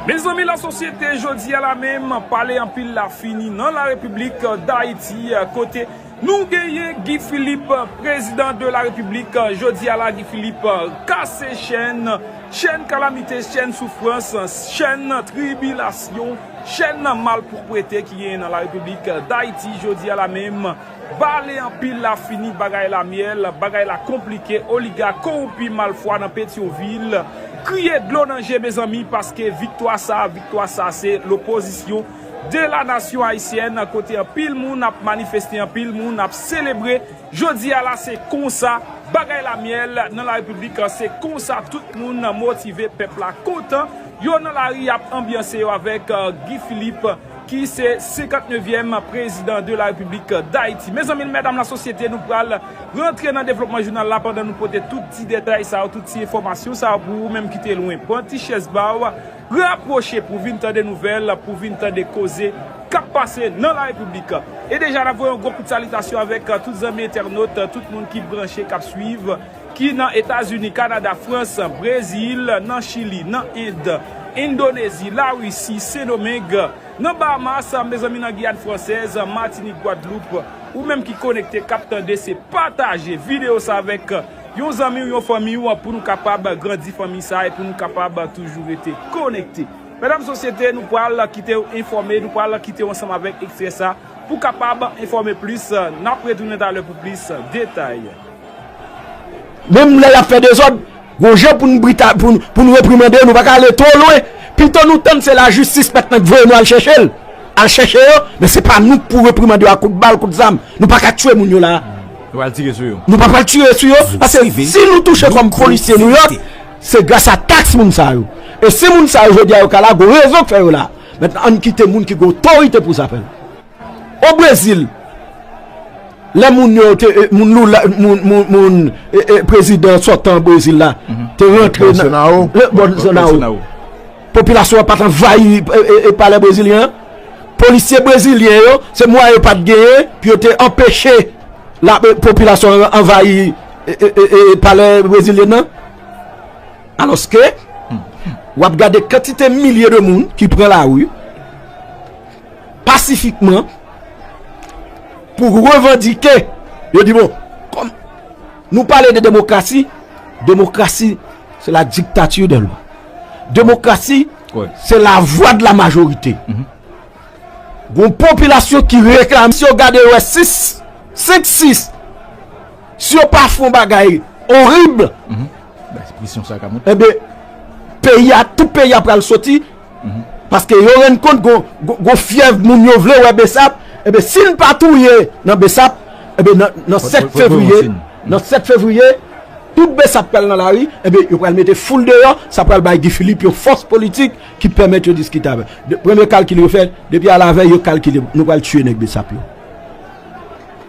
Mezanmi la sosyete jodi a la menm pale anpil la fini nan la repiblik dayiti kote nou genyen Guy Philippe prezidan de la repiblik jodi a la Guy Philippe kase chèn chèn kalamite chèn soufrans chèn tribilasyon chèn malpwoprete ki genyen nan la repiblik dayiti jodi a la menm. Pale anpil la fini bagay la myèl bagay la konplike oligak kowoupi malfwa nan petyonvil kriye dlo nan je mezanmi paske viktwa sa viktwa sa se lopozisyon de la nasyon ayisyèn kote anpil moun ap manifeste anpil moun ap selebre jodi a la se konsa bagay la myèl nan la repiblik se konsa tout moun motive pèp la kontan yo nan lari yap anbyanse yo avèk guy philippe. ki se 59 èm prezidan de la repiblik dayiti. Mezanmi l mèdam la sosyete nou pral rantre nan devlopman jounal la pandan nou pote tout ti detay sa yo tout ti enfòmasyon sa yo pou ou menm ki te lwen pran ti chèz ba w rapwoche pou vin tande nouvèl pou vin tande koze kap pase nan la repiblik e deja n ap voye yon gwo kout salitasyon avèk tout zanmi entènot tout moun ki branche kap swiv. ki nan Etazini, Kanada, Frans, Brezil, nan Chili, nan End, Endonezi, Larisi, Sendomeng, nan Bahamas, mezanmi nan Giyàn Fransèz, Matinik, Gwadloup, ou menm ki konekte kap tande se pataje video sa avèk yon zanmiw yon fanmiw pou nou kapab grandi fanmi sa e pou nou kapab toujou rete konekte. Medam sosyete nou pral kitew enfòme nou pral kitew ansanm avèk ekstrè sa pou kapab enfòme plis nap retounen talè pou plis detay. Menm lè y ap fè dezòd, gon jan pou n brita, pou n, pou n reprimande yo, nou pa ka ale twò lwen. Pito nou tann se lajistis mèt nan k voye nou al chèche l. Al chèche yo, men se pa nou k pou reprimande yo ak kout bal, kout zam. Nou pa ka tye moun yo la a. Nou pa pral tire sou yo. Nou pa pral tire sou yo, paske si nou touche kòm polisye New York, se gras a taks moun sa yo. E si moun sa yo jodi a yo ka la, gon rezon k fè yo la a. Mèt an n kite moun ki gen otorite pou sa fè l. O Brezil, lè moun yo te, moun Lula, moun prezidan sotan Brezil la, te rantre nan, Bolsonaro, Bolsonaro, popilasyon an pat anvayi palè brezilyen an, polisye brezilyen yo, se mwayen yo pat genyen pou yo te anpeche la popilasyon an anvayi palè brezilyen an. Alòske, wap gade kantite milye de moun ki pran lari, pasifikman pou revandike yo di bon kòm nou pale de demokrasi demokrasi se la diktati de lwa demokrasi se la vwa de la majorite mm-hmm. goun popilasyon ki reklame si yo gade yo e 6 5 6 si yo pa fon bagay orib e be peyi a tout peyi a pral soti Paske yo rann kont gon fyèv moun yo vle wè Bsap, enben si n pa touye nan Bsap, enben nan 7 fevriye, nan 7 fevriye, tout Bsap pral nan lari, enben yo pral mete foul deyò, sa pral bay Guy Philippe yon fòs politik ki pèmèt yo diskite avè l. Premye kalkil yo fè, depi alavèy yo kalkile nou pral tiye nèg Bsap yo.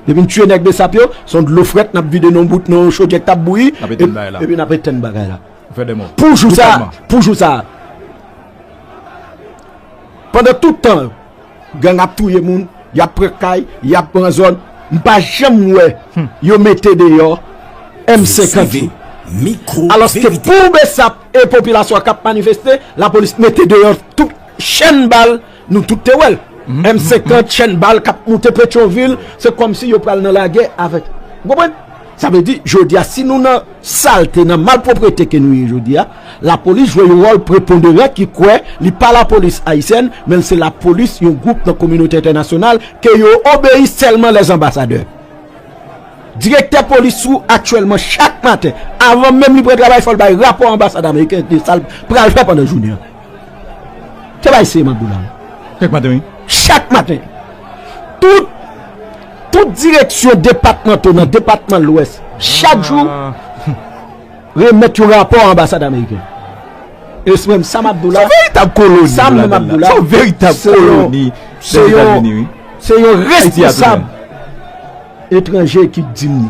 Depi n tiye nèg Bsap yo, s on dlo frèt n ap vide nan yon bout, nan yon chodyè k t ap bouyi, epi n ap etenn bagay la. Pou jou sa a, pou jou sa a. Pandan tout tan gang ap touye moun, y ap pran kay, y ap pran zòn, m pa janm wè yo mete deyò M50 yo. Alòske pou Bsap e popilasyon an k ap manifeste, lapolis mete deyò tout chenn bal. Nou tout te wèl M 50 chèn bal kap moute petyon vil se kòmsi yo pral nan lagè avèk ou konprann sa vle di jodia si nou nan salte nan malproprete ke nou ye jodia lapolis jwe yon wòl preponderan ki kwè li pa lapolis ayisyèn menl se lapolis yon gwoup nan kominote entènasyonal ke yo obeyi sèlman lè zanbasadè direktè polis ou aktyèlman chak maten avan menm li pran travay fòl bay rapò anbasad ameriken de sal pral fè pandan jounen an. Te bay se man boula. Chak maten wi. Chak maten. Tout tout direksyon depatmanto nan depatman lwès chak jou remèt yon rapò a anbasad ameriken. E se menm Sam Abdoula. Son veritab koloni. Sam menm Abdoula. Son veritab koloni. Se yon se yon responsab etranje ki di m.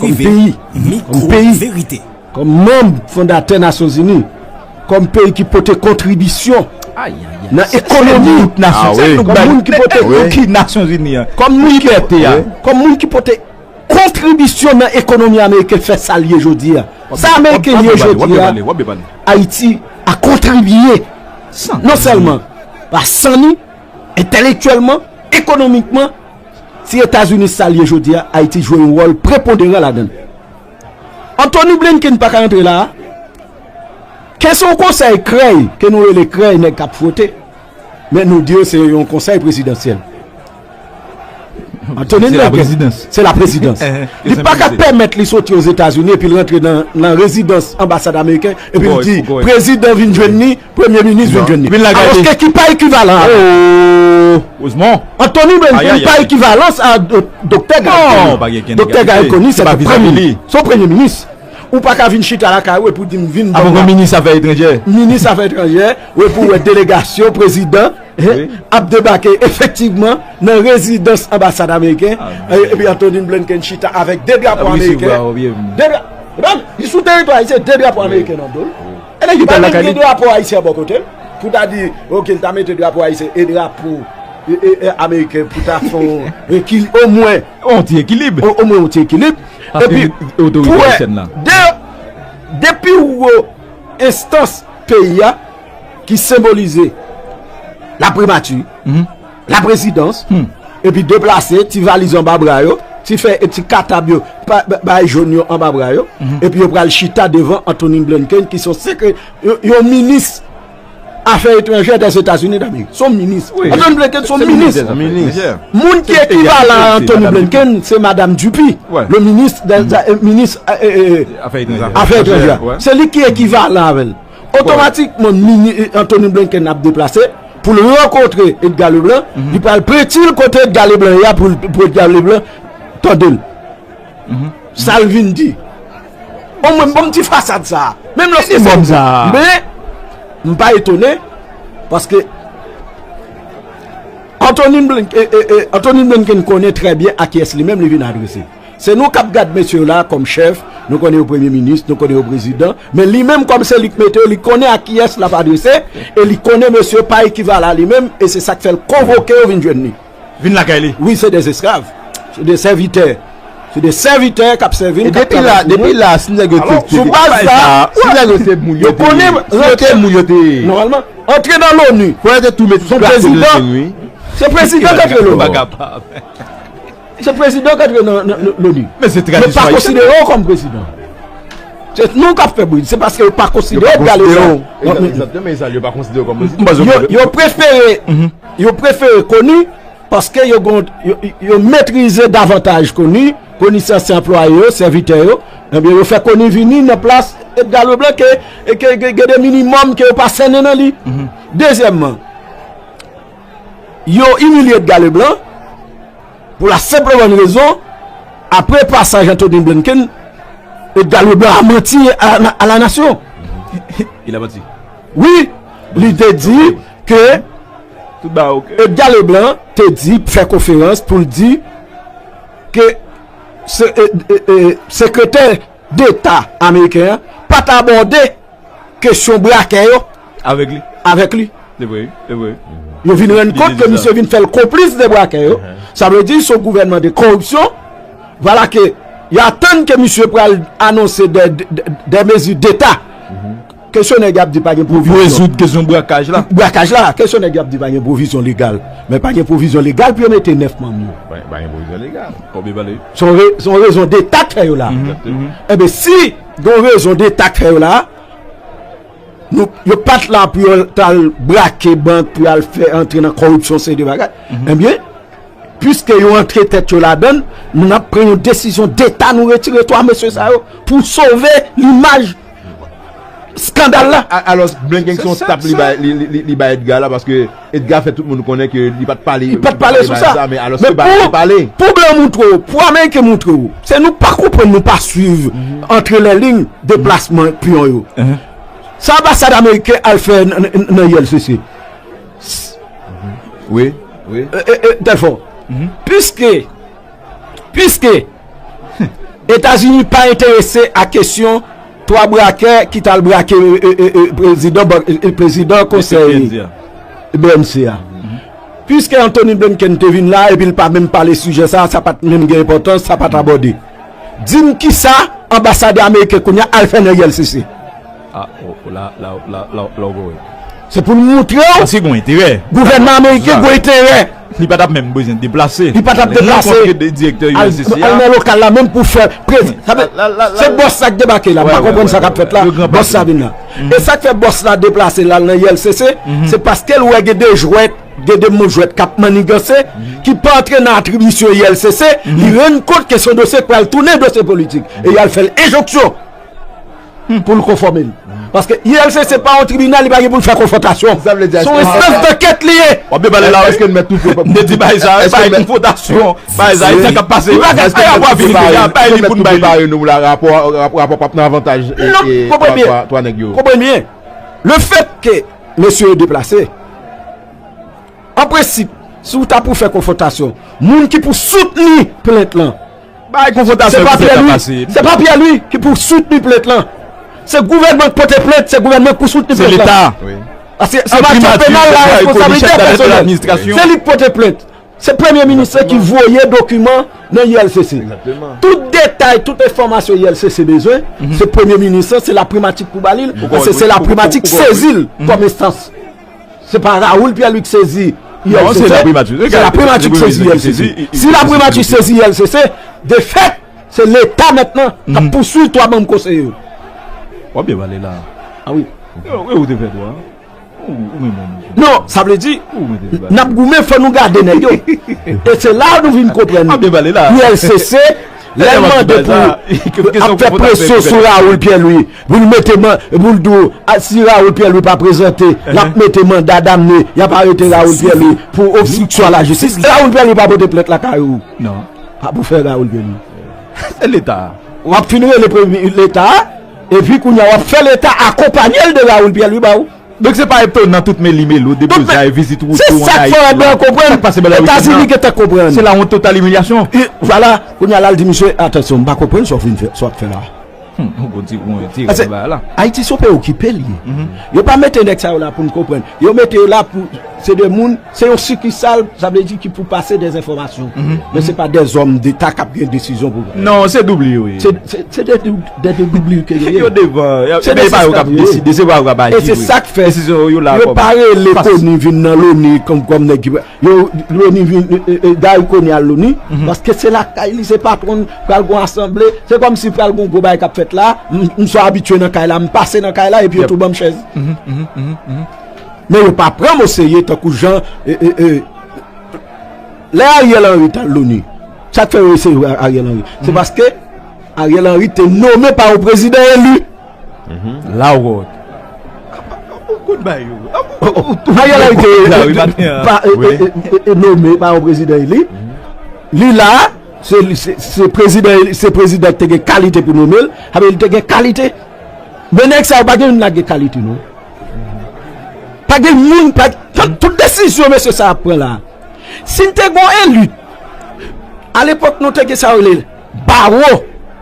Kòm peyi, kòm peyi, kòm manm fondatè Nasyon Zini, kòm peyi ki pote kontribisyon nan ekonomi, kòm moun ki pote konki Nasyon Zini an, kòm moun ki pote, kòm moun ki pote kontribisyon nan ekonomi Ameriken fè sa l ye jodi a. Sa Ameriken ye jodi a, Ayiti a kontribiye non sèlman la san li, entèlektyèlman, ekonomikman, Si Etazini sa l ye jodi a, Ayiti jwe yon wòl preponderan ladan l. Anthony Blinken pa ka antre la a. Ke se yon konsèy krèy, ke nou rele krèy nèg k ap fwote, men nou di yo se yon konsèy prezidansyèl. Anthony Blinken, se la prezidans. Li pa ka pèmèt li soti Ozetazini epi l rantre nan rezidans anbasad ameriken epi l di prezidan vin jwenn li. Premye minis vin jwenn li. Aloske ki pa ekivalan a. Antoni Blinken pa ekivalans a Doktè Garry Conille. Doktè Garry Conille se te premye minis. Se yon premye minis. Ou pa ka vin chita lakay ou epi w di m vin. Avan gen minis afè etranjè. Minis afè etranjè. Ou epi w wè delegasyon prezidan ap debake efektivman nan rezidans anbasad ameriken. Epi Antoni Blinken chita avèk 2 drapo ameriken. Li sou teritwa ayisyen 2 drapo ameriken nan do l. Pa menm gen drapo ayisyen bò kote l. Pou ta di ok l ta mete drapo ayisyen e drapo ameriken pou ta fè omwen yon ti ekilib. Epi pou wè de pi wo enstans peyi a ki senbolize la primati. Laprezidans, epi deplase ti valiz anba bra yo, ti fèy e ti katab yo, bay joun yo anba bra yo, epi yo pral chita devan Antonin Blinken ki son sekre, yon minis afè etranjè Dèzetazini Damerik. Son minis. Antonin Blinken son minis. Moun ki ekivalan a Antonin Blinken se Madam Dupi, le minis, minis afè etranjè. Se li ki ekivalan avè l. Otomatikman mini Antony Blinken ap deplase pou l rankontre Edgar Leblanc, li pral prenti l kote Edgar Leblanc ye a pou Edgar Leblanc tande l. Sa l vin di. O mwen m ban m ti fasad sa a. Menm lè se moun sa a. Men, m pa etone, paske Antony Blinken konnen trè byen a kiyès li menm li vin adrese. Se nou kap gad mesye yo la a kòm chèf, nou konnen yo premye minis, nou konnen yo prezidan, men li menm kòm se li k mete yo, li konnen a kiyès lap adrese e li konnen mesye yo pa ekivalan a li menm e se sak fèl konvoke yo vin jwenn li. Vin lakay li. Wi se des esklav, se de sèvitè, se de sèvitè kap sèvi n, kap travay pou nou. E depi la, si nèg yo te te sou baz sa, si nèg yo se moun yo te ye, si yo te moun yo te ye. Nòmalman, antre nan loni, son prezidan, se prezidan k antre loni. Se prezidan k antre nan loni. Men se tradisyon ayisyen. Yo pa konsidere yo kòm prezidan. Se nou k ap fè bri. Se paske yo pa konsidere yo. Yo pa konsidere yo. Yo pa konsidere yo kòm prezidan. Yo prefere. Yo prefere koni. Paske yo gon. Yo metrize davantaj koni. Koni se ansyen anplwaye yo. Sèvitè yo. Yo fè koni vini nan plas. E dga lou blan ke. Gede minimòm ke yo pa sènen nan li. Dezyèmman. Yo imilye Edgar Leblanc pou la senp e bòn rezon apre pasaj Anthony Blinken, Edgar Leblanc a manti a la nasyon. Il a manti? Wi, li te di ke Edgar Leblanc te di, fè konferans pou l di ke sekretè Deta ameriken an pa t abòde kesyon brakè yo avèk li. Yo vin rann kont ke misye vin fè l konplis de brakè yo. Sa vle di son gouvènman de koripsyon. Vwala ke y atann ke misye pral anonse de mezi deta Kesyon nèg y ap di pa gen pwovizyon. Pou rezoud kesyon brakaj la. Brakaj la. Kesyon nèg y ap di pa gen pwovizyon legal. Men pa gen pwovizyon legal pou yo mete 9 manm yo. Pa gen pwovizyon legal. Kòb yo pale. Se yon rezon deta k fè yo la. Enben si gen yon rezon deta k fè yo la, yo pa t la pou yo t al brake bank, pou yo al fè antre nan kòripsyon seri de bagay. Enben, piske yo antre tèt yo ladann, nou n ap pran yon desizyon deta nou retire 3 mesye sa yo pou sove limaj Skandal la! Alos blan gen son tap li bay Edgar la paske Edgar fè tout moun konnen ke li pat pale de sa men alos ke blan pale. Pou blan moutre w, pou ameriken moutre w, se nou pa konprann nou pa swiv antre lè lign deplasman piyon yo. Sa anbasad ameriken al fè nan ULCC? Wi, wi. Dèlfò, piske Piske Etazini pa enterese ak kesyon 3 brakè ki tal brake prezidan konsèy BMC a. Piske Anthony Blinken te vin la epi l pa menm pale sijè sa, sa pat menm gen enpòtans, sa pat abòde. Di m kisa anbasadè ameriken kounya al fè nan ulcc? Ah oh la la la la ou voye. Se pou nou moutre w. Paske gwen enterè. Gouvènman ameriken gwen enterè. Li pa tap menm bezwen deplase. Li pa tap deplase. Rankontre de direktè USCCA. Al nan lokal la menm pou fè prez. Sa vle. La la la. Se bòs sa k debake la. M pa konprann sa k ap fèt la. Le grand patron. Bòs sa vin la. E sa k fè bòs la deplase l al nan ULCC. Se paske l wè gen de jwèt, gen de moun jwèt k ap manniganse. Ki pa antre nan atribisyon ULCC. Li rann kont ke son dosye k pral tounen dosye politik. E y al fè l enjonksyon. pou l konfòme l. Paske ULCC se pa yon tribinal, li pa gen pou l fè konfwontasyon. Se yon enstans dankèt li ye. Wap byen pale la wi. M te di bay sa, bay konfwontasyon. Bay sa, esak ap pase. Bay li pou n bay li. Rapò pap nan avantaj 3 nèg yo. Konprann byen. Le fèt ke mesye yo deplase, an prensip, si w ta pou fè konfwontasyon, moun ki pou soutni plent lan, Bagay konfwontasyon ki fèt la pase. Se pa Pierre Louis ki pou soutni plent lan. Se gouvènman ki pote plent, se gouvènman ki pou soutni plent lan. Se leta. Paske an matyè penal la responsabilite pèsonèl. Se li ki pote plent. Se premye minis la ki voye dokiman nan ULCC. Tout detay, tout enfòmasyon ULCC bezwen, se premye minis la, se laprimati ki pou ba li l, paske se laprimati ki sezi l kòm enstans. Se pa Raoul Pierre Luc sezi ULCC. Se la primati ki sezi ULCC. Si la primati ki sezi ULCC, de fèt, se leta mètnen k ap pouswiv 3 manm konseye yo. W ap byen pale la. A wi. E ou te fè 3? Non, sa vle di, n ap goumen fò nou gade nèg yo. E se la nou vin konprann. W ap byen pale la. ULCC, lè l mande pou ap fè presyon sou Raoul Pierre Louis. Pou l mete man, pou l tou, si Raoul Pierre Louis pa prezante, l ap mete manda damne, y ap arete Raoul Pierre Louis pou obstriksyon a la jistis. Raoul Pierre Louis pa pote plent lakay ou. Non. Pa pou fè Raoul Pierre Louis. Se leta a. W ap fin rele premye leta a, epi kounye a w ap fè leta a akonpanye l de Raoul Pierre Louis ba ou. Donk se pa etonan tout meli melo, deblozay, vizit woutou, anayiti. Se sa k fè w ap bè w konprann. Sa k pase bè la woutou nan. Etazini gen tan k konprann. Se la wont total imilyasyon. Vwala, kounye a la l di misye, atansyon, m pa konprann sa w fin fè, sa w ap fè la a. Ayiti son peyi okipe li ye. Yo pa mete nèg sa yo la pou nou konprann. Yo mete yo la pou se de moun, se yon sikisal, sa vle di ki pou pase de enfòmasyon. Men se pa de zòm deta k ap gen desizyon pou pran. Non, se doubli yo ye. Se de doubli yo ke yo ye. Yo devan. Se de sa yo k ap deside. Se pa yo k ap aji. E se sa k fè. Desizyon yo la. Yo pa rele koni vin nan loni konprann nèg ki. Yo loni vin gari konia al loni paske se lakay li se patronl pral gon asanble se komsi pral gon gwo bagay kap fèt la msò abitye nan kay la mpase nan kay la epi yo tou banm chèz men yo pa pranm oserye tankou jan lè ariel henry tal loni sak fè yo eseye ariel henry se paske ariel henry te nome pa yon prezidan eli. La Rocque. Ariel Henry te nome pa yon prezidan eli. Li la, se prezidan ki te gen kalite pou nome l. Sa vle di li te gen kalite. Men nèg sa yo pa gen youn la gen kalite non. Pa gen youn, tout desizyon mesye sa yo ap pran la. Si n te gen yon elit, alepòk nou te gen sa yo rele baro.